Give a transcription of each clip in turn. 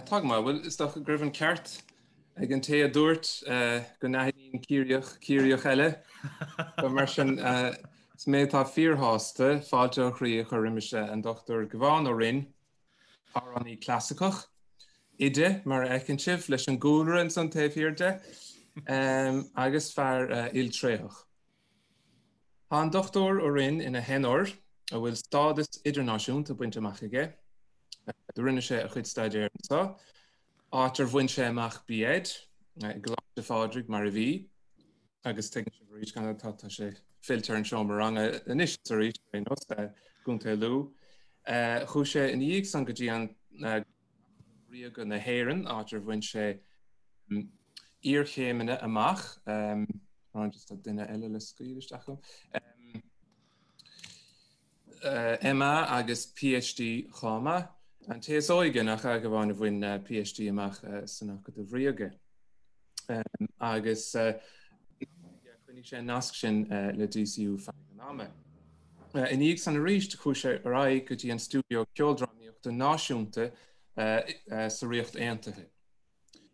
Tá go maith. Bhuel, is dócha go raibh an ceart ag an té a dúirt go n-aithníonn Ciarraíoch Ciarraíoch eile. Mar sin, is mé atá fíorshásta fáilte ó chroí a chur roimis an Dr Gabhán Ó Rinn, Amhránaí clasaiceach, oide, mar a fheiceann sibh leis an gcúlra ansan taobh thiar de, agus fear iltréitheach. Tá an Dr Ó Rinn ina theanór, a bhfuil stádas idirnáisiúnta bainte amach aige, do rinne sé a chuid staidéir anso, áit ar bhain sé amach B. Ed. i gColáiste Phádraig, mar a bhí, agus tuigeann sibh arís tá sé fillte ar an seomra ranga anois is arís, ar aon nós, i gContae Lú. Chuaigh sé ina dhiaidh san go dtí an Acadamh Ríoga na hÉireann, áit ar bhain sé iarchéimeanna amach. Tá duine eile le scaoileadh isteach agam. MA agus PhD chomh maith, an té is óige nach ea, a Ghabháin, a bhain PhD amach san Acadamh Ríoga. Agus choinnigh sé an nasc sin le DCU feadh an ama. I ndiaidh san arís, chuaigh sé ar aghaidh go dtí an Stiúideo Ceoldrámaíochta Náisiúnta sa Ríocht Aontaithe.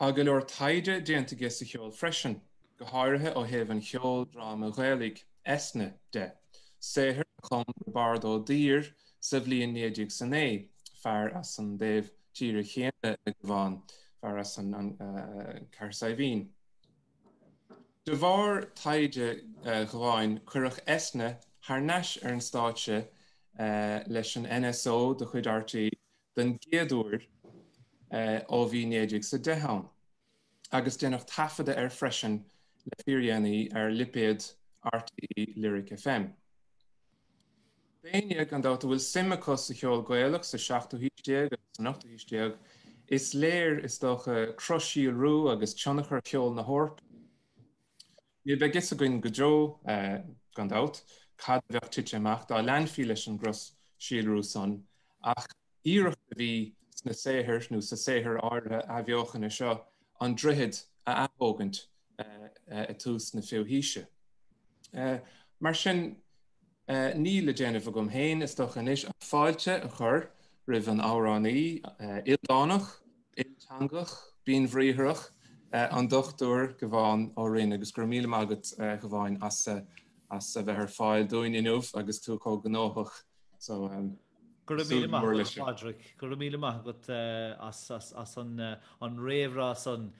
Tá go leor taighde déanta aige sa cheol freisin, go háirithe ó thaobh an cheoldráma Ghaelaigh, Eithne, de, saothar a chum Roibeárd Ó Duibhir sa bhliain 1909, fear as an taobh tíre chéanna le Gabhán, fear as an Cathair Saidhbhín. De bharr taighde Ghabháin cuireadh Eithne thar n-ais ar an stáitse leis an NSO de chuid RTÉ den gcéad uair ó bhí 1910 ann, agus déanadh taifeadadh air freisin le fíordhéanaí ar lipéad RTÉ Lyric FM. D'éinne, gan dabht, a bhfuil suim acu sa cheol Gaelach sa seachtú haois déag agus san ochtú haois déag, is léir, is dócha, cros-síolrú agus tionchar cheol na hEorpa. Ní bheidh fhios againn go deo, gan dabht, cad a bheadh tite amach dá leanfaí leis an gcros-síolrú san, ach iarracht a bhí sna saothair, nó sa saothar áirithe athbheochana seo, an droichead a athógaint ag tús na fichiú haoise. Mar sin, Níl le déanamh agam féin, is dócha anois, ach fáilte a chur roimh an amhránaí ildánach, ilteangach, binnbhriathrach, an Dr Gabhán Ó Rinn, agus go raibh míle maith agat, Gabháin, as a bheith ar fáil dúinn inniu agus tú chomh gnóthach so. Go raibh míle maith agat Pádraig, go raibh míle maith agat as an réamhrá san.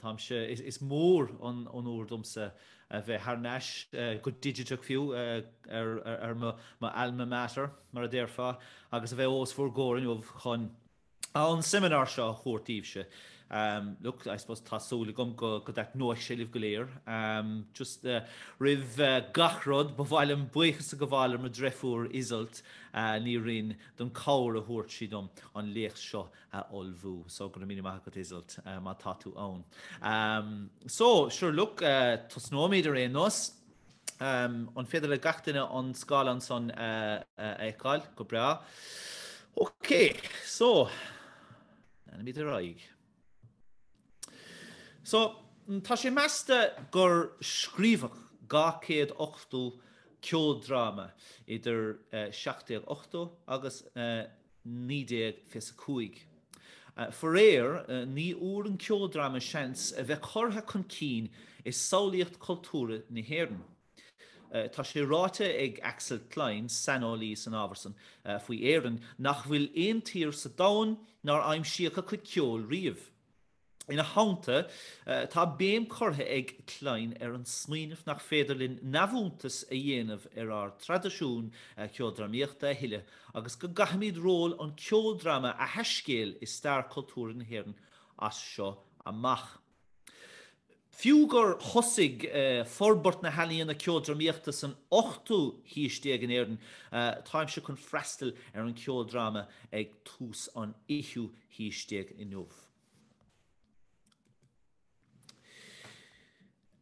Táimse, is mór an onóir domsa a bheith thar n-ais, go digiteach fiú, ar m'alma mater, mar a déarfá, agus a bheith os bhur gcomhair inniu chun An seimineár seo a thabhairt daoibhse, look, I suppose tá súil agam go dtaitneoidh sé libh go léir. Just roimh gach rud, ba mhaith liom buíochas a ghabháil le mo dhreifiúr Iseult Ní Rinn don chabhair a thug sí dom an léacht seo a ullmhú. So, go raibh míle maith agat Iseult má tá tú ann. So, sure, look, tosnóimid ar aon nós. An féidir le gach duine an scáileán san a fheiceáil? Go breá. Ok, so, leanfaimid ar aghaidh. So, tá sé measta gur scríobhadh 280 ceoldráma idir 1780 agus 1925. Faraor, ní fhuair an ceoldráma seans a bheith curtha chun cinn i samhlaíocht cultúrtha na hÉireann. Tá sé ráite ag Axel Klein, saineolaí san ábhar san, faoi Éirinn, nach bhfuil aon tír sa domhan nár aimsíodh a cuid ceoil riamh. Ina theannta, tá béim curtha ag Klein ar an smaoineamh nach féidir linn neamhshuntas a dhéanamh ar ár dtraidisiún ceoldrámaíochta a thuilleadh agus go gcaithfimid ról an cheoldráma a thaiscéal i stair chultúrtha na hÉireann as seo amach. Fiú gur thosaigh forbairt na healaíona ceoldrámaíochta san ochtú haois déag in Éirinn, táimse chun freastal ar an cheoldráma ag tús an fhichiú haois déag inniu.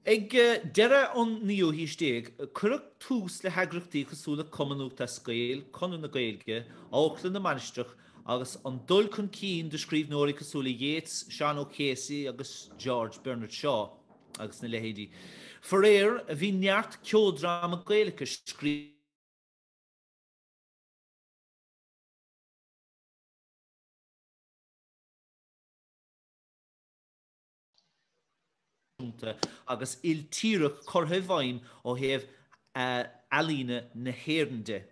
Ag deireadh an naoú haois déag, cuireadh tús le heagraíochtaí cosúil le Cumann Lúthchleas Gael, Conradh na Gaeilge, Amharclann na Mainistreach, agus an dul chun cinn de scríbhneoirí cosúil le Yeats, Seán O'Casey agus George Bernard Shaw agus na leithéidí. Faraor, bhí neart ceoldráma Gaeilge scríofa. réasúnta agus iltíreach curtha i bhfeidhm ó thaobh ealaíne na hÉireann de.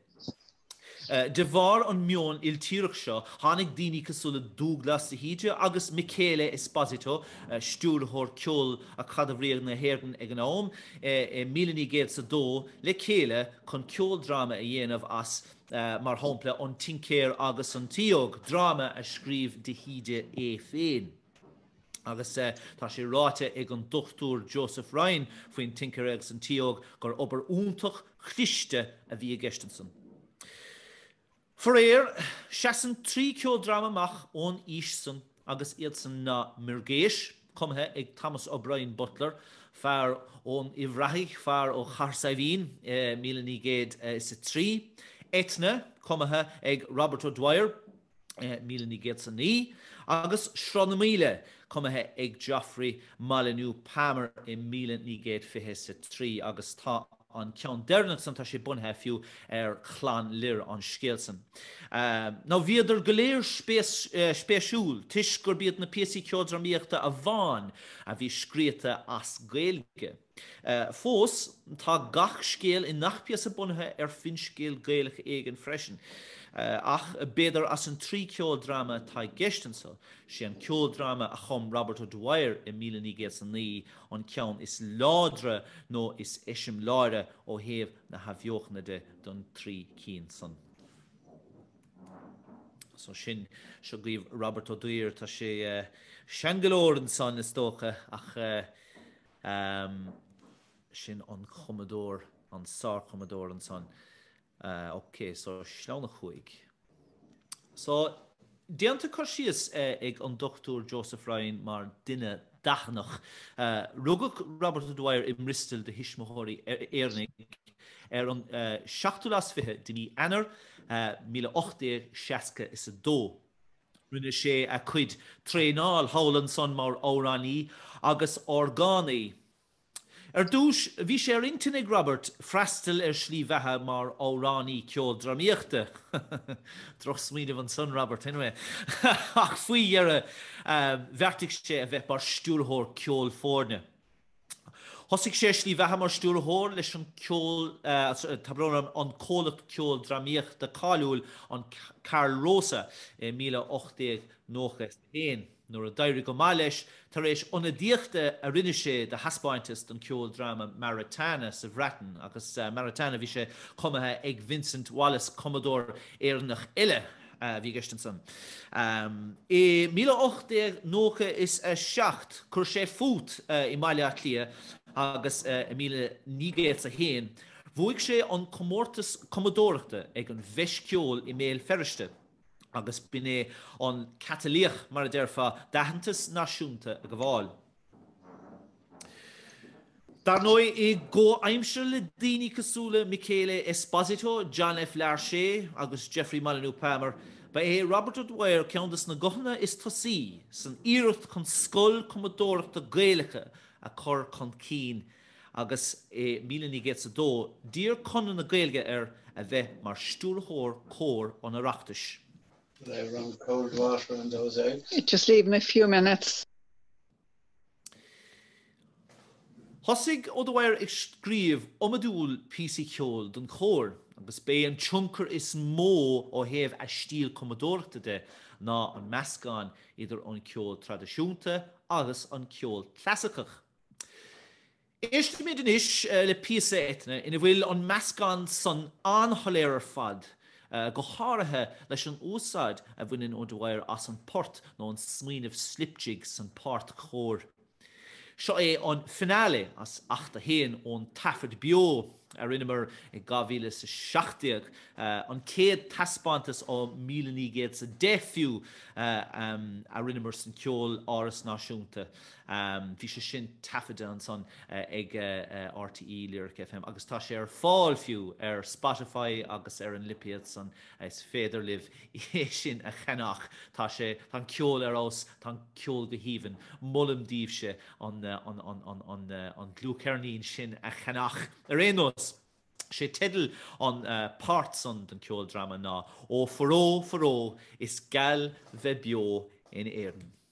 De bharr an meon iltíreach seo, tháinig daoine cosúil le Dúglas de hÍde agus Michele Esposito, Stiúrthóir Ceoil Acadamh Ríoga na hÉireann ag an am, i míle naoi gcéad is a dó, le chéile chun ceoldráma a dhéanamh as, mar shampla An Tincéir agus an tSíóg, dráma a scríobh de hÍde é féin. Agus tá sé ráite ag an Dr Joseph Ryan faoin Tincéir agus an tSíóg gur obair fhiúntach, chliste a bhí i gceist ansan. Faraor, seasann trí ceoldráma amach ón aois san agus iad san ná Muirgheis, cumtha ag Thomas O'Brien Butler, fear ón Uíbh Ráthaigh, fear ó Chathair Saidhbhín, míle naoi gcéad is a trí, Eithne, cumtha ag Robert O'Dwyer, 1909, agus Sruth na Maoile, cumtha ag Geoffrey Molyneux Palmer i 1923 agus tá an ceann deireanach san, tá sé bunaithe fiú ar Chlann Lir an scéal san. Now bhíodar go léir spéisiúil toisc gurb iad na píosaí ceoldrámaíochta amháin a bhí scríota as Gaeilge. Fós, tá gach scéal i ngach píosa bunaithe ar finscéal Gaelach éigin freisin, ach b'fhéidir as an trí ceoldráma atá i gceist anseo, sé an ceoldráma a chum Robert O'Dwyer i míle naoi gcéad is a naoi an ceann is láidre nó is eiseamláire ó thaobh na hAthbheochana de den trí cinn san. So sin seo dhaoibh Robert O'Dwyer. Tá sé sean go leor ansan, is dócha, ach. Ehm, sin an cumadóir, an sárchumadóir ansan. Eh, ok, so sleamhnán a chúig. So, déanta cur síos eh, ag an Dr Joseph Ryan mar duine dathannach. Eh, rugadh Robert O'Dwyer i mBristol do thuismitheoirí Éireannaigh ar an eh, seachtú lá is fiche de mí Eanáir eh, míle ocht déag seasca is a dó. Rinne sé a chuid traenáil thall ansan mar amhránaí agus orgánaí. Ar dtúis, bhí sé ar intinn ag Robert freastal ar slí bheatha mar amhránaí ceoldrámaíochta, drochsmaoineamh ansan, Robert, anyway, ach faoi dheireadh bheartaigh sé a bheith mar stiúrthóir ceolfhoirne. Thosaigh sé a shlí bheatha mar stiúrthóir leis an ceol, tá brón orm, an comhlacht ceoldrámaíochta cáiliúil an Carl Rosa, i míle ocht déag nócha is a haon. Nuair a d'éirigh go maith leis tar éis ionadaíochta a rinne sé do thaispeáinteas don ceoldráma Maritana sa Bhreatain agus Maritana bhí sé cumtha ag Vincent Wallace, cumadóir Éireannach eile. a bhí i gceist ansan. I míle ocht déag nócha is a seacht chuir sé fút i mBaile Átha Cliath agus i míle naoi gcéad 's a haon bhuaigh sé an comórtas cumadóireachta ag an bhFeis Ceoil i mBéal Feirste agus b'in é an catalaíoch, mar a déarfá, d'aitheantas náisiúnta a ghabháil. Dar ndóigh, i gcomhaimsir le daoine cosúil le Michele Esposito, John F. Larchet agus Geoffrey Molyneux Palmer, ba é Robert O'Dwyer ceann de na guthanna is túisce san iarracht chun scoil cumadóireachta Gaelach a chur chun cinn agus i 1902 d'iarr Conradh na Gaeilge air a bheith mar stiúrthóir cóir an Oireachtais. They run cold water on those eggs. Just leave them a few minutes. Thosaigh O'Dwyer ag scríobh iomadúil píosaí ceoil don chór, agus b'é an tionchar is mó ó thaobh a stíl cumadóireachta de ná an meascán idir an ceol traidisiúnta agus an ceol clasaiceach. Éistimis anois le píosa Eithne ina bhfuil an meascán san an-shoiléir ar fad, go háirithe leis an úsáid a bhaineann O'Dwyer as an port nó an smaoineamh slip jig san páirt chóir. Seo é an finale as Acht a hAon ón taifead beo a rinneamar i 2017, an céad taispeántas ó míle naoi gcéad 's a deich fiú a rinneamar san Ceoláras Náisiúnta. Bhí sé sin taifeadta ansan ag RTÉ Lyric FM agus tá sé ar fáil fiú ar Spotify agus ar an lipéad san, is féidir libh é sin a cheannach. Tá sé, tá an ceol ar fheabhas, tá an ceol go haoibhinn. Molaim daoibhse an dlúthcheirnín sin a cheannach. Ar aon nós, sé teideal an pháirt san den ceoldráma ná Ó Foró, Foró, is geal bheith beo in Éirinn.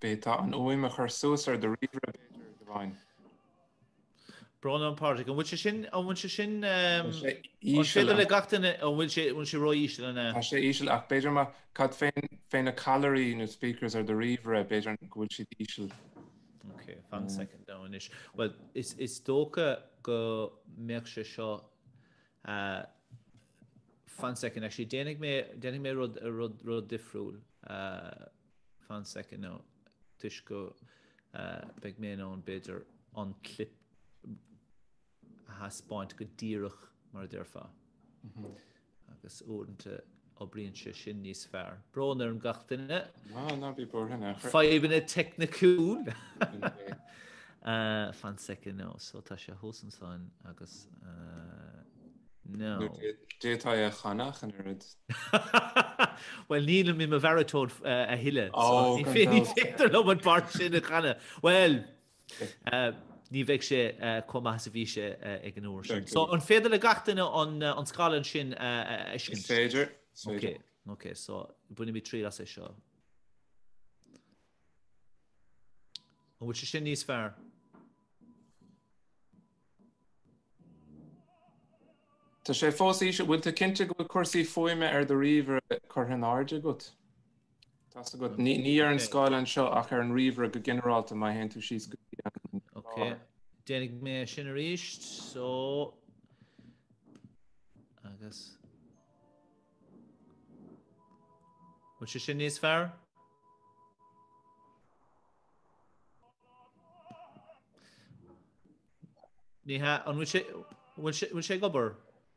B'fhéidir an fhuaim a chur suas ar do ríomhaire b'fhéidir, Gavan. Brón orm a Phádraig. An bhfuil sé sin, an bhfuil sé sin, Tá sé íseal. An féidir le gach duine, an bhfuil sé, an bhfuil sé ró-íseal nó. Tá sé íseal ach b'fhéidir má cad faoi, faoi na callairí nó speakers ar do ríomhaire b'fhéidir go bhfuil siad íseal. Ok, fan second amháin anois. Bhuel, is, is dócha go mbeadh sé seo Ah, fan second, actually, déanfaidh mé, déanfaidh mé rud, rud, rud difriúil. Uh, fan second, now, toisc go uh, beidh mé ann b'fhéidir an clip a thaispeáint go díreach mar a déarfá. Mm -hmm. Agus uaireanta Oibríonn sé sin níos fearr. Brón orm gach duine. Ná, ná bí buartha in aon chor. Fadhbanna teicniciúil. Fan second now, so tá sé thuas ansan agus now. Nó d'fhéadfá é a chanadh go díreach. Bhuel nílim i mo bharatón a thuilleadh so ní féidir liom an pháirt sin a chanadh. Bhuel! Ní bheidh sé chomh maith is a bhí sé ag an uair sin. So, an féidir le gach duine an scáileán sin a fheiscint? Is féidir, is féidir. Ok, ok. So, bainimid triail as é seo. An bhfuil sé sin níos fearr? Tá sé fós íseal. Bhfuil tú cinnte go bhfuil cúrsaí fuaime ar do ríomhaire curtha in airde agat? Tá sé agat. Ní ar an scáileán anseo ach ar an ríomhaire go ginearálta má théann tú síos go dtí an láithreán. Ok. Déanfaidh mé é sin arís. So, agus. Bhfuil sé sin níos fearr? Ní hea, an bhfuil sé, bhfuil sé, bhfuil sé ag obair?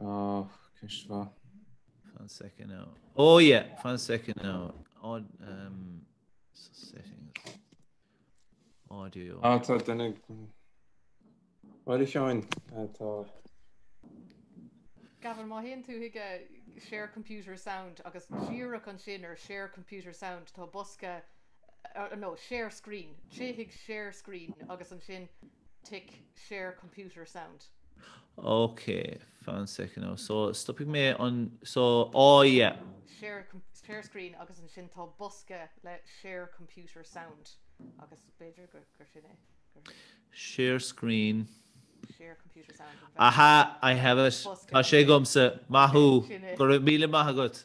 Oh, ceist mhaith. Fan second now. Oh yeah, fan second now. Odd um so settings. Audio. Ah, tá duna Bhil seáin tá Gavin má théann tú chuig share computer sound agus díreach ansin ar share computer sound tá bosca nó share screen, téigh chuig share screen agus ansin tic share computer sound. Ok, fan second now, so stopfaidh mé an, so, oh yeah. share share screen agus ansin tá bosca le share computer sound agus b'fhéidir gur gur sin é, gur. share screen. share computer sound. Aha, I have it, tá sé agamsa, maith thú, go raibh míle maith agat.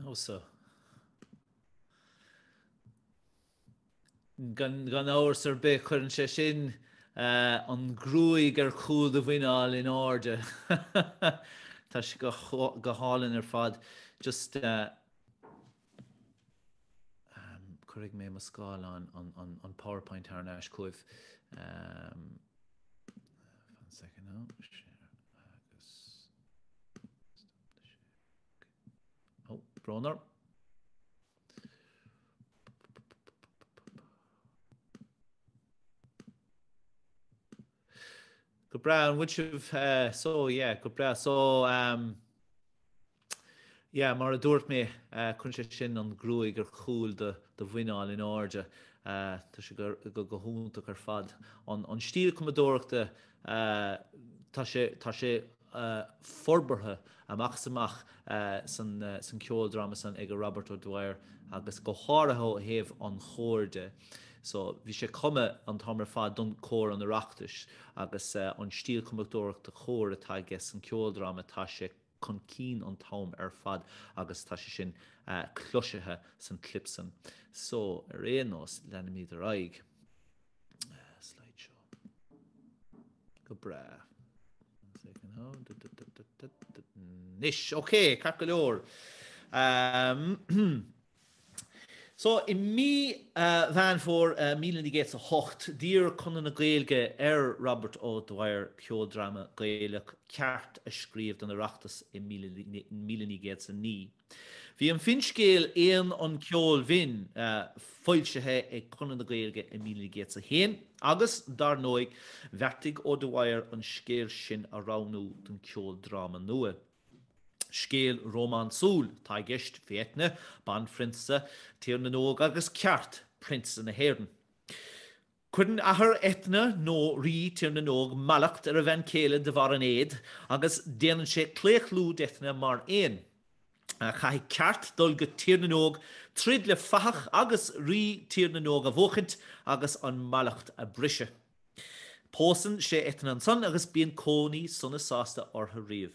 Nó so. Gan amhras ar bith, cuireann sé sin an ghruaig ar chúl do mhuiníl in airde. Tá sé go hálainn ar fad. Just. Cuirfidh mé mo scáileán an PowerPoint ar ais chugaibh. Fan second now. Share agus... Stop the share. Okay. Oh, brón orm. Go breá an bhfuil sibh so yeah go breá so um, yeah mar a dúirt mé uh, cuireann sé sin an ghruaig ar chúl do, do mhuiníl in airde uh, tá sé go, go, go hiontach ar fad an, an stíl cumadóireachta uh, tá sé, tá sé forbartha amach is amach san ceoldráma san ag Robert O'Dwyer agus go háirithe ó thaobh an chóir de. So bhí sé cumtha an t-am ar fad don Cór an Oireachtais agus an stíl cumadóireachta chóir atá aige san ceoldráma tá sé chun cinn an t-am ar fad agus tá sé sin cloisithe san clip san. So ar aon nós leanfaimid ar aghaidh. Slide show. Go breá. Nis, ok, ceart go leor. So, i mí Mheán Fómhair 1908, d'iarr Conradh na Gaeilge ar Robert O'Dwyer ceoldráma Gaelach ceart a scríobh don Oireachtas i 1909. Bhí an finscéal Éan an Cheoil Bhinn foilsithe ag Conradh na Gaeilge i 1901 agus, dar ndóigh, bheartaigh O'Dwyer an scéal sin a roghnú don cheoldráma nua. Scéal rómánsúil atá i gceist, fé Eithne, banphrionsa Tír na nÓg agus Ceart, prionsa na hÉireann. Cuireann athair Eithne, nó rí Tír na nÓg, mallacht ar a bhean chéile de bharr an éad agus déanann sé claochlú d'Eithne mar éan. Caithfidh Ceart dul go Tír na nÓg, troid le fathach agus rí Tír na nÓg a bhuachaint agus an mallacht a briseadh. Pósann sé Eithne ansan agus bíonn cónaí sona sásta orthu riamh.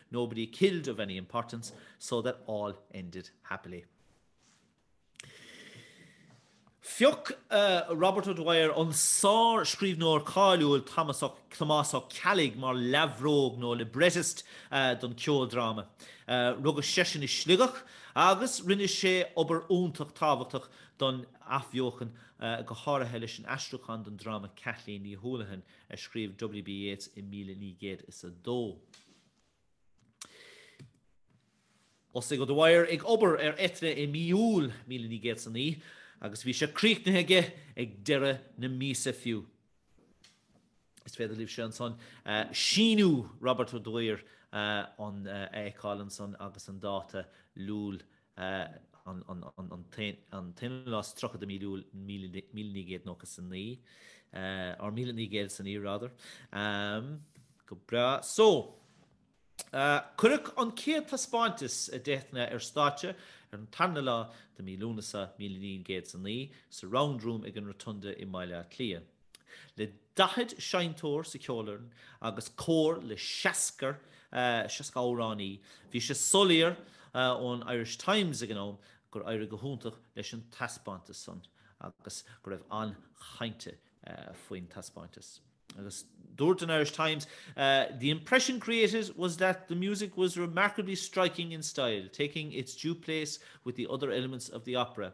nobody killed of any importance, so that all ended happily. Phioc Robert O'Dwyer an sárscríbhneoir cáiliúil Tomás Ó Ceallaigh mar leabhrógaí nó librettist don cheoldráma. Rugadh seisean i Sligeach agus rinne sé obair iontach tábhachtach don Athbheochan, go háirithe leis an aistriúchán don dráma Cathleen Ní Houlihan a scríobh W.B. Yeats i míle naoi gcéad is a dó. Thosaigh O'Dwyer ag obair ar Eithne i mí Iúil, míle naoi gcéad is a naoi, agus bhí sé críochnaithe aige ag deireadh na míosa fiú. Is féidir libh sé ansan síniú Robert O'Dwyer an a fheiceáil ansan agus an dáta Iúil an t-aonú lá is tríocha de mí Iúil míle naoi gcéad nócha is a naoi, or míle naoi gcéad is a naoi rather. Go breá. So, cuireadh an chéad taispeáintas de Eithne ar stáitse ar an tarna lá de mí Lúnasa míle naoi gcéad is a naoi sa Round Room ag an Rotunda i mBaile Átha Cliath. Le 40 seinnteoir sa cheolfhoireann agus cór le 60 amhránaí, bhí sé soiléir ón Irish Times ag an am gur éirigh go hiontach leis an taispeántas san agus go raibh an-chaint faoin taispeántas. Agus dúirt an Irish Times, The impression created was that the music was remarkably striking in style, taking its due place with the other elements of the opera.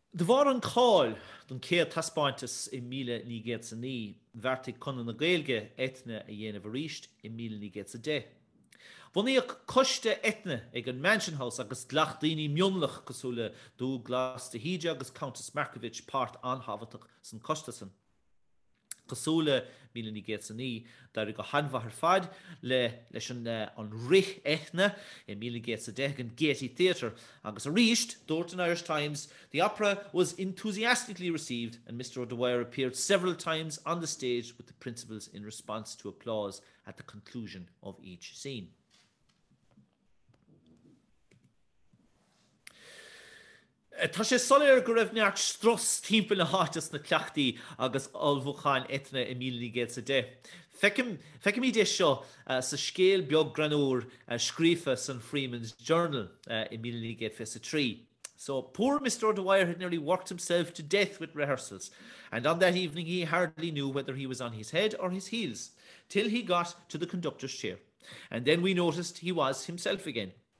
De bharr an cáil don chéad taispeántas i míle naoi gcéad is a naoi, bheartaigh Conradh na Gaeilge Eithne a dhéanamh arís i míle naoi gcéad is a deich. Bunaíodh coiste Eithne ag an Mansion House agus ghlach daoine mionlach cosúil le Dúglas de hÍde agus Countess Markievicz páirt an-thábhachtach san coiste san. Cosúil le míle naoi gcéad is a naoi, d'éirigh go han-mhaith ar fad le leis an rith Eithne i míle naoi gcéad is a deich ag an Gaiety Theatre agus arís dúirt an Irish Times, The opera was enthusiastically received and Mr O'Dwyer appeared several times on the stage with the principals in response to applause at the conclusion of each scene. Tá sé soiléir go raibh neart strus timpeall na háite sna cleachtaí agus ullmhúcháin Eithne i 1910. Feicimid é seo sa scéal beag greannúr scríofa san Freeman's Journal i 1923, 'So poor Mr. O'Dwyer had nearly worked himself to death with rehearsals, and on that evening he hardly knew whether he was on his head or his heels till he got to the conductor's chair, and then we noticed he was himself again'.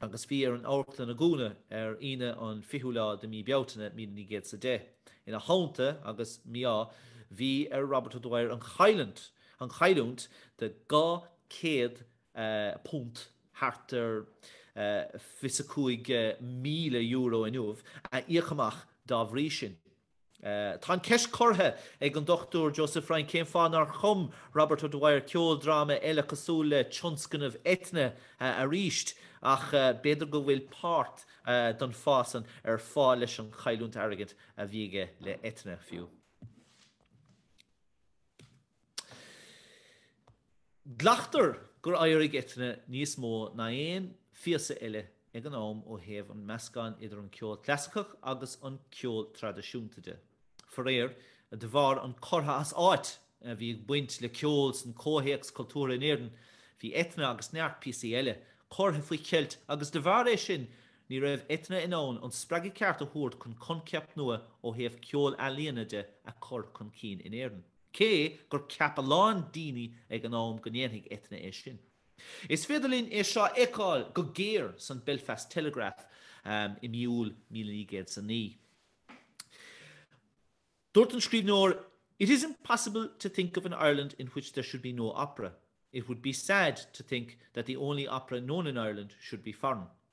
agus bhí ar an amharclann dúnadh ar Aoine an 20ú lá de mhí Bealtaine, Míle Naoi gCéad 's a Deich. Ina theannta an mí-ádh, bhí ar Robert O'Dwyer an chailliúint, an chailliúint, de dhá chéad punt, thart ar fiche is a cúig míle euro inniu, a íoc amach dá bhrí sin. Tá an cheist curtha ag an Dr Joseph Ryan cén fáth nár chum Robert O'Dwyer ceoldráma eile cosúil le tionscnamh Eithne aríst ach b'fhéidir go bhfuil páirt don fáth san ar fáil leis an chailliúint airgid a bhí aige le Eithne fiú. Glactar gur éirigh Eithne níos mó ná aon phíosa eile ag an am ó thaobh an meascán idir an ceol clasaiceach agus an ceol traidisiúnta de. Faraor, de bharr an curtha as áit a bhí ag baint le ceol san comhthéacs cultúrtha in Éirinn, bhí Eithne agus neart píosaí eile curtha faoi cheilt agus de bharr é sin ní raibh Eithne in ann an spreagadh ceart a thabhairt chun concept nua ó thaobh ceol ealaíona de a chur chun cinn in Éirinn. cé gur cheap a lán daoine ag an am go ndéanfadh Eithne é sin. Is féidir linn é seo a fheiceáil go géar san Belfast Telegraph i mí Iúil míle naoi gcéad is a naoi. Dúirt an scríbhneoir, 'It is impossible to think of an Ireland in which there should be no opera. It would be sad to think that the only opera known in Ireland should be foreign.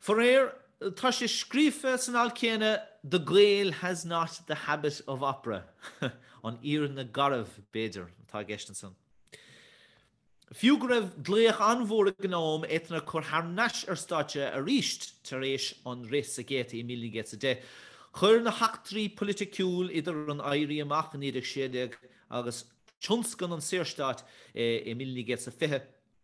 Faraor, tá sé scríofa san alt céanna 'The Gael has not the habit of opera'. An fhírinne garbh, b'fhéidir, atá i gceist ansan. Fiú go raibh glaoch an-mhór ag an am, Eithne a chur thar n-ais ar stáitse arís tar éis an rith sa Gaiety i 1910, chuir na heachtraí politiciúil idir an Éirí Amach i 1916 agus tionscan an Saorstáit i 1920,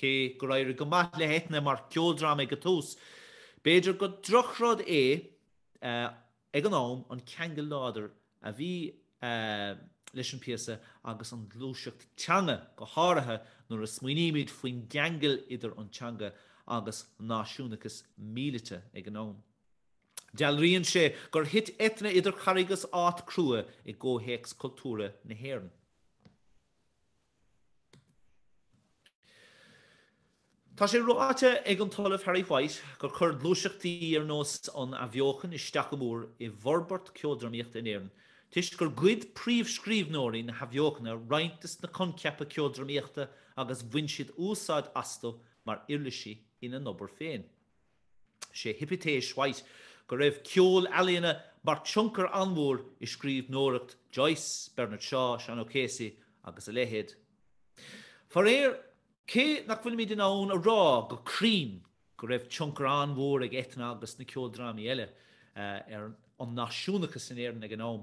Cé gur éirigh go maith le hEithne mar cheoldráma ag an tús, b'fhéidir gur drochrud é ag an am an ceangal láidir a bhí leis an bpíosa agus an ghluaiseacht teanga, go háirithe nuair a smaoinímid faoin gceangal idir an teanga agus náisiúnachas míleata ag an am. Dealraíonn sé gur thit Eithne idir charraig is áit chrua i gcomhthéacs cultúrtha na hÉireann. Tá sé ráite ag an tOllamh Harry White gur chuir gluaiseachtaí ar nós an Athbheochan isteach go mór i bhforbairt ceoldrámaíochta in Éirinn toisc gur ghoid príomhscríbhneoirí na hAthbheochana roinnt des na coincheapa ceoldrámaíochta agus bhain siad úsáid astu mar uirlisí ina n-obair féin. Sé hipitéis White go raibh ceol ealaíona mar tionchar an-mhór i scríbhneoireacht Joyce, Bernard Shaw, Sean O'Casey agus a leithéid. Faraor, cé nach bhfuilimid in ann a rá go cruinn go raibh tionchar an-mhór ag Eithne agus na ceoldrámaí eile ar an náisiúnachas in Éirinn ag an am,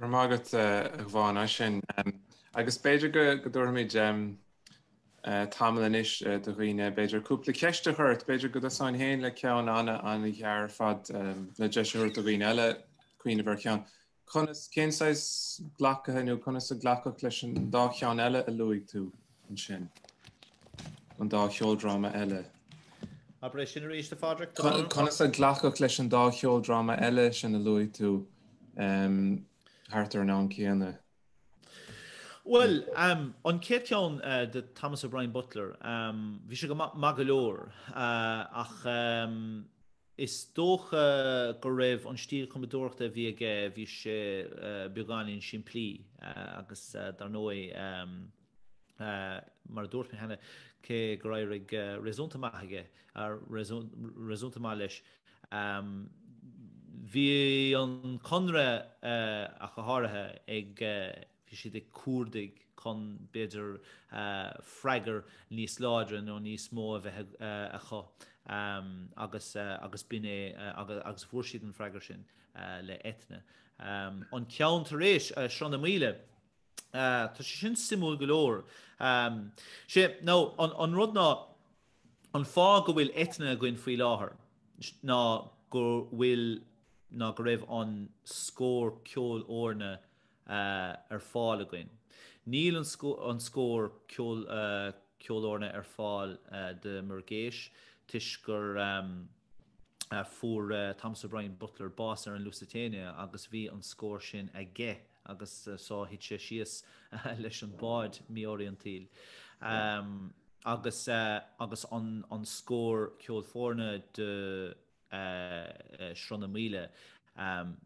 Go raibh maith agat, a Ghavan, as sin. Agus b'fhéidir go dtabharfaimid tamall anois do dhaoine, b'fhéidir, cúpla ceist a chur ort. B'fhéidir go dtosóinn féin le ceann an-ghearr ar fad le deis a thabhairt do dhaoine eile cuimhneamh ar cheann. Conas, cén saghas glacaithe nó conas a glacadh leis an dá cheann eile a luaigh tú? ansin, an dá cheoldráma eile. Abair é sin arís, a Phádraic. Conas a glacadh leis an dá cheoldráma eile sin a luaigh tú thart ar an am céanna? Bhuel, an chéad cheann de Thomas O'Brien Butler, bhí sé go maith go leor ach is dócha go raibh an stíl cumadóireachta a bhí aige, bhí sé beagáinín simplí agus dar ndóigh, mar a dúirt mé cheana, cé gur éirigh réasúnta maith aige, réasúnta maith leis. Bhí an Conradh ach go háirithe ag, bhí siad ag cuardaigh chun b'fhéidir freagair níos láidre nó níos mó a bheith acu agus, agus b'in é agus fuair siad an freagair sin le Eithne. An ceann tar éis, Sruth na Maoile, Tá sé sin suimiúil go leor. Sé, nó an rud ná, an fáth go bhfuil Eithne againn faoi láthair ná go bhfuil, ná go raibh an scór ceolfhoirne ar fáil againn. Níl an scór ceolfhoirne ar fáil de Muirgheas toisc gur fuair Thomas O'Brien Butler bás ar an Lusitania agus bhí an scór sin aige. agus so thit sé síos leis an bád míoriantaíl agus agus an an scór ceolfhoirne de Shruth na Maoile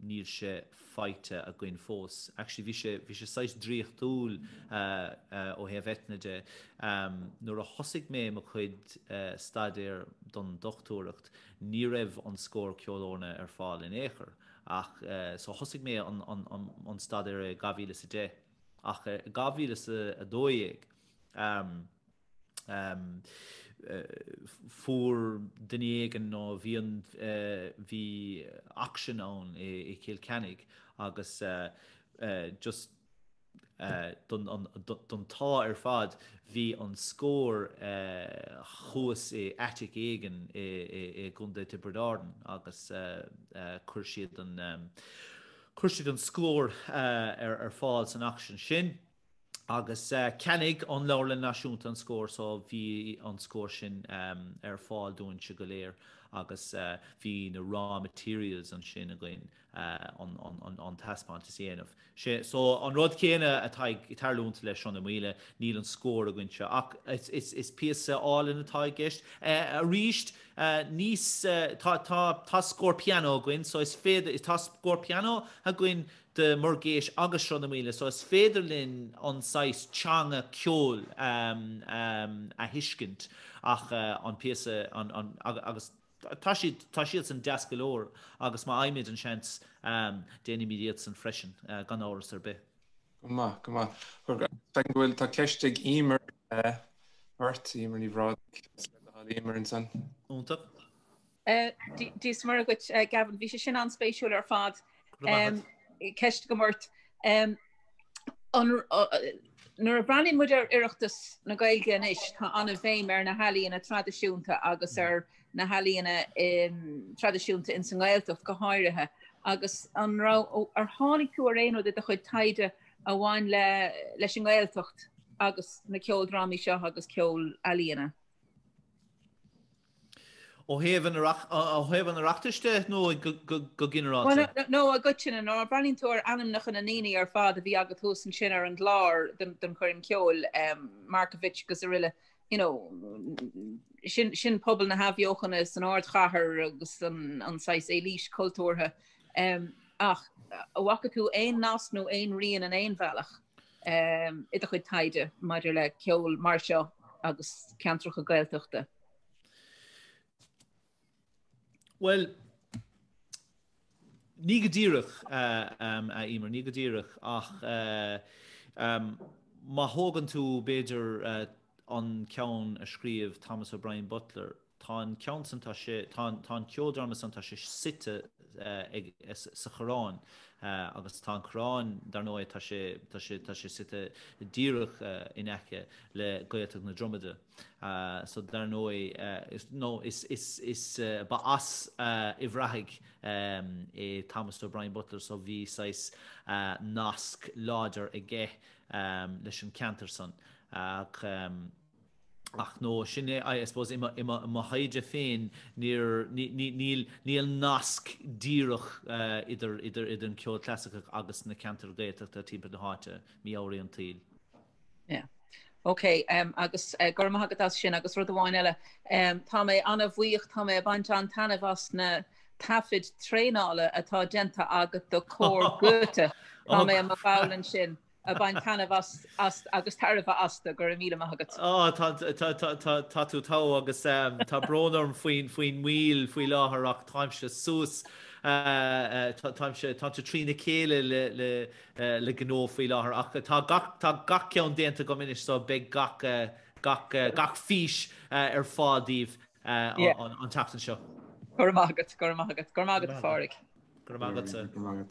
níl sé faighte againn fós. Actually bhí sé bhí sé saghas draíochtúil ó thaobh Eithne de. Nuair a thosaigh mé mo chuid staidéir don dochtúireacht ní raibh an scór ceolfhoirne ar fáil in aon chor Ach so thosaigh mé an staidéar 2010 ach 2012 fuair duine éigin nó bhí an, bhí auction ann i gCill Chainnigh agus just, Don t-ádh ar fad, bhí an scór thuas i attic éigin i gContae Tiobraid Árann agus chuir siad an scór ar fáil san auction sin agus ceannaigh an Leabharlann Náisiúnta an scór so bhí an scór sin ar fáil dúinn-se go léir agus bhí na raw materials ansin againn an taispeántas a dhéanamh. Sé so an rud céanna atá ag tarlúint le Sruth na Maoile, níl an scór againn anseo ach is píosa álainn atá i gceist. Arís níos, tá, tá, tá scór pianó againn so is féidir, tá scór pianó againn de Muirgheas agus Sruth na Maoile so is féidir linn an saghas teanga ceoil a thuiscint ach an píosa, an, an, agus. Tá siad, tá siadsan deas go leor agus má fhaighimid an seans, déanfaimid iadsan freisin, gan amhras ar bith. Go maith, go maith. Feicim go bhfuil, tá ceist ag Emer ort, Emer Ní Bhrádaigh, Emer ansan. Iontach. Dia is Muire dhuit Gavin, bhí sé sin an-spéisiúil ar fad. Ceist agam ort. Nuair a breathnaíonn muid ar Oireachtas na Gaeilge anois, tá an-bhéim ar na healaíona traidisiúnta agus ar na healaíona traidisiúnta ins an nGaeltacht go háirithe, agus an raibh, ar tháinig tú ar aon rud i do chuid taighde a bhain leis an nGaeltacht agus na ceoldrámaí seo agus ceol ealaíona? Ó thaobh an Oireachtais de nó go ginearálta? No, i gcoitinne. Nuair a bhreathnaíonn tú ar ainmneacha na ndaoine ar fad a bhí agat thuas ansin ar an gclár don choirm cheoil, Markievicz agus aroile, you know, sin pobal na hathbheochana san ardchathair agus an saghas élite cultúrtha. Ach an bhfaca tú aon nasc nó aon rian in aon bhealach? i do chuid taighde maidir le ceol mar seo agus ceantracha Gaeltachta? Bhuel, ní go díreach, a Emer, ní go díreach ach má thógann tú b'fhéidir an ceann a scríobh Thomas O'Brien Butler, Tá an ceann san, tá sé, tá an, tá an ceoldráma san, tá sé suite ag, sa Choireán agus tá an Choireán, dar ndóigh, tá sé, tá sé, tá sé suite díreach in aice le Gaeltacht na Dromoda so dar ndóigh nó is, is, is, ba as Uíbh Ráthaigh é Thomas O'Brien Butler so bhí saghas nasc láidir aige leis an ceantar san ach. Ach no, sin é, I suppose, i mo thaighde féin, níl nasc díreach idir an ceol clasaiceach agus na ceantair Ghaeltachta timpeall na háite, mí-ámharaí an tsaoil. OK, agus go raibh maith agat as sin. Agus rud amháin eile, tá mé an-bhuíoch, tá mé ag baint an-taitneamh as na taifid traenála atá déanta agat do Cór Goethe. Tá mé i mo bhall ansin. a bhain taitneamh as agus tairbhe astu. Go raibh míle maith agat. Tá tú togha agus tá brón orm faoin moill faoi láthair ach táimse suas, táimse trína chéile le gnó faoi láthair ach tá gach ceann déanta agam anois so beidh gach fís ar fáil daoibh an tseachtain seo. Go raibh maith agat, go raibh maith agat. Go raibh maith agat a Phádraig. Go raibh maith agatsa.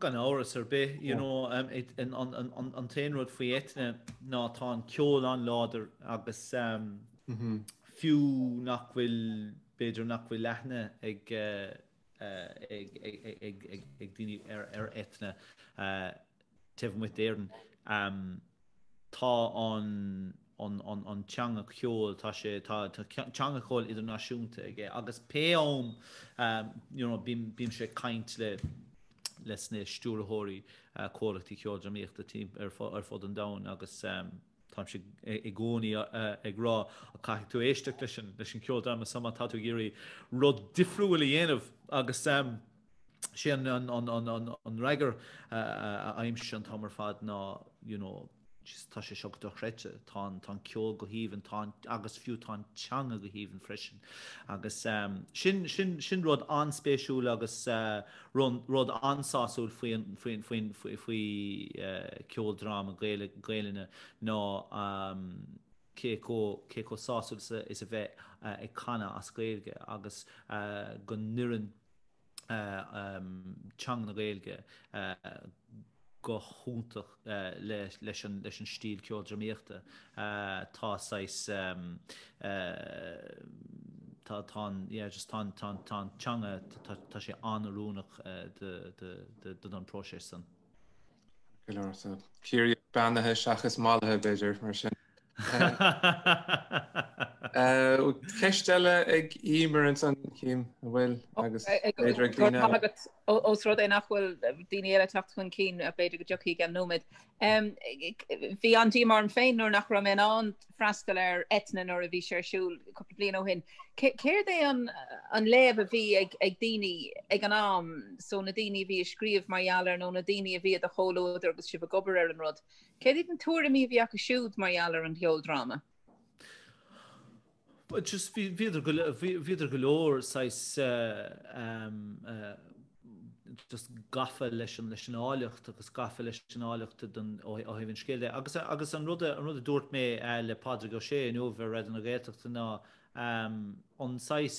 Gan amhras ar bith, you know, um, it, an, an, an, an, an t-aon rud faoi Eithne ná tá an ceol an-láidir agus um, mm -hmm. fiú nach bhfuil b'fhéidir nach bhfuil aithne ag, uh, uh, ag, ag, ag, ag, ag, ag daoine ar, ar Eithne. Uh, taobh amuigh d'Éirinn, tá an teanga ceoil, tá sé, tá teanga ceoil idirnáisiúnta aige agus pé am, you know, bímse ag caint le le sna stiúrthóirí comhlachtaí ceoldrámaíochta timpeall ar fud an domhain agus táimse i gcónaí ag rá, á, caithfidh tú éisteacht leis an ceoldráma so má tá tú ag iarraidh rud difriúil a dhéanamh? Agus sé an freagra i gcónaí, an t-am ar fad ná you know just tá sé seo go dochreidte, tá an ceol go haoibhinn, tá an, agus fiú tá an teanga go haoibhinn freisin. Agus sin rud an-spéisiúil agus rud an-sásúil faoi cheoldráma Gaelainne ná cé chomh sásúil is a bheith ag canadh as Gaeilge agus go n-oireann teanga na Gaeilge go hiontach leis an stíl ceoldrámaíochta. Tá saghas, tá an teanga, tá sé an-oiriúnach don próiseas san. Ciarraígh beannaithe seachas mallaithe b'fhéidir, mar sin? Ceist eile ag Emer ansan, cén, an bhfuil agus b'fhéidir ag daoine eile. Agus ós rud é nach bhfuil daoine eile ag teacht chun cinn, b'fhéidir go dtiocfaidh i gceann nóiméid. Bhí an-díomá orm féin nuair nach raibh mé in ann freastal ar Eithne nuair a bhí sé ar siúl cúpla bliain ó shin. Céard é an léamh a bhí ag daoine ag an am, so na daoine a bhí ag scríobh mar gheall air nó na daoine a bhí i do chomhluadar agus sibh ag obair ar an rud? Céard iad na tuairimí a bhí acu siúd mar gheall ar an gceoldráma? Just bhíodar go bhíodar go leor saghas just gafa leis an leis an áilleacht agus gafa leis an áilleacht ó thaobh an scéil de. Agus agus an rud an rud a dúirt mé le Pádraig Ó Sé inniu ar Raidió na Gaeltachta ná an saghas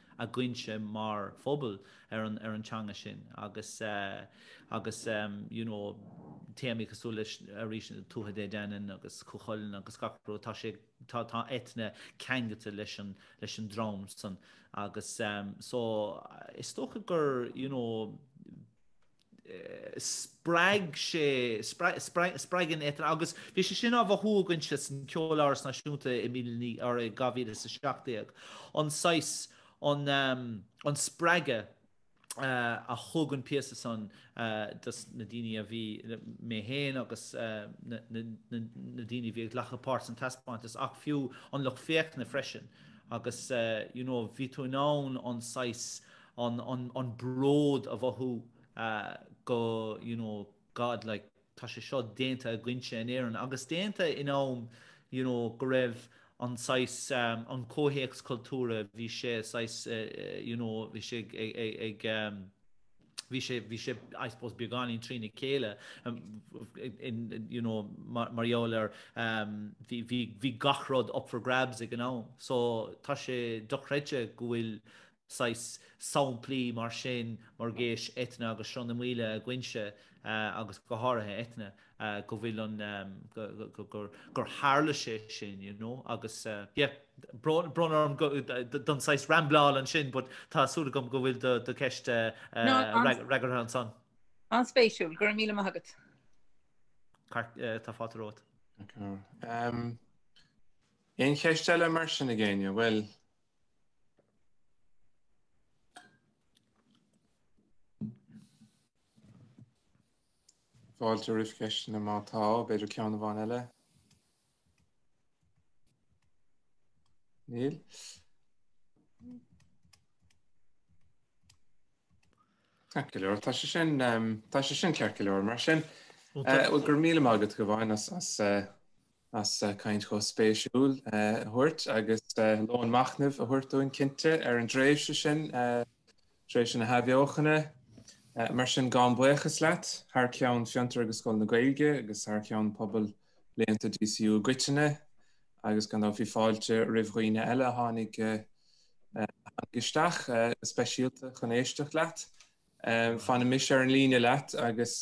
againne mar phobal ar an ar an teanga sin agus agus you know téamaí cosúil leis arís Tuatha Dé Danann agus Cú Chulainn agus gach rud tá sé tá tá Eithne ceangailte leis an leis an droim san agus so is dócha gur you know spreag sé, spreagann Eithne, agus bhí sé sin á mhothú againne san Ceoláras Náisiúnta i mí na, ní, arra i 2017, an saghas, an, an spreagadh a thug an píosa san do na daoine a bhí, mé féin agus na, na, na daoine a bhí ag glacadh páirt san taispeántas agus fiú an lucht féachana freisin agus you know bhí tú in ann an saghas, an bród a mhothú go you know God like tá sé seo déanta againne in Éirinn agus déanta in am you know go raibh an saghas an comhthéacs cultúrtha bhí sé saghas you know bhí sé ag bhí sé bhí sé I suppose beagáinín trína chéile um, in you know mar is eol, um, bhí bhí bhí gach rud up for grabs ag an am so tá sé dochreidte go bhfuil saghas samplaí mar sin, Muirgheas, Eithne agus Sruth na Maoile i gCoinnsí, agus go háirithe Eithne, go bhfuil an, gur, gur tharla sé sin, you know, agus, yeah, brón orm don saghas rambleáil ansin but tá súil agam go bhfuil do cheist freagartha ansan. An-spéisiúil, go raibh míle maith agat. Tá fáilte romhat. Aon cheist eile mar sin ag éinne? Bhuel, Fáilte roimh cheisteanna má tá, b'fhéidir ceann amháin eile. Níl. Ceart go leor, tá sé sin ehm, tá sé sin ceart go leor mar sin. Bhfuil eh, go raibh míle maith agat, a Shiobhán, as eh, as caint chomh spéisiúil a thabhairt agus lón machnaimh a thabhairt dúinn cinnte ar an dtréimhse sin, tréimhse na hathbheochana. Mar sin, gabhaim buíochas leat thar ceann Fiontar agus Scoil na Gaeilge agus thar ceann pobal léannta DCU i gcoitinne agus gan dabht bhí fáilte roimh dhaoine eile a tháinig isteach go speisialta chun éisteacht leat. Fanfaidh mise ar an líne leat agus.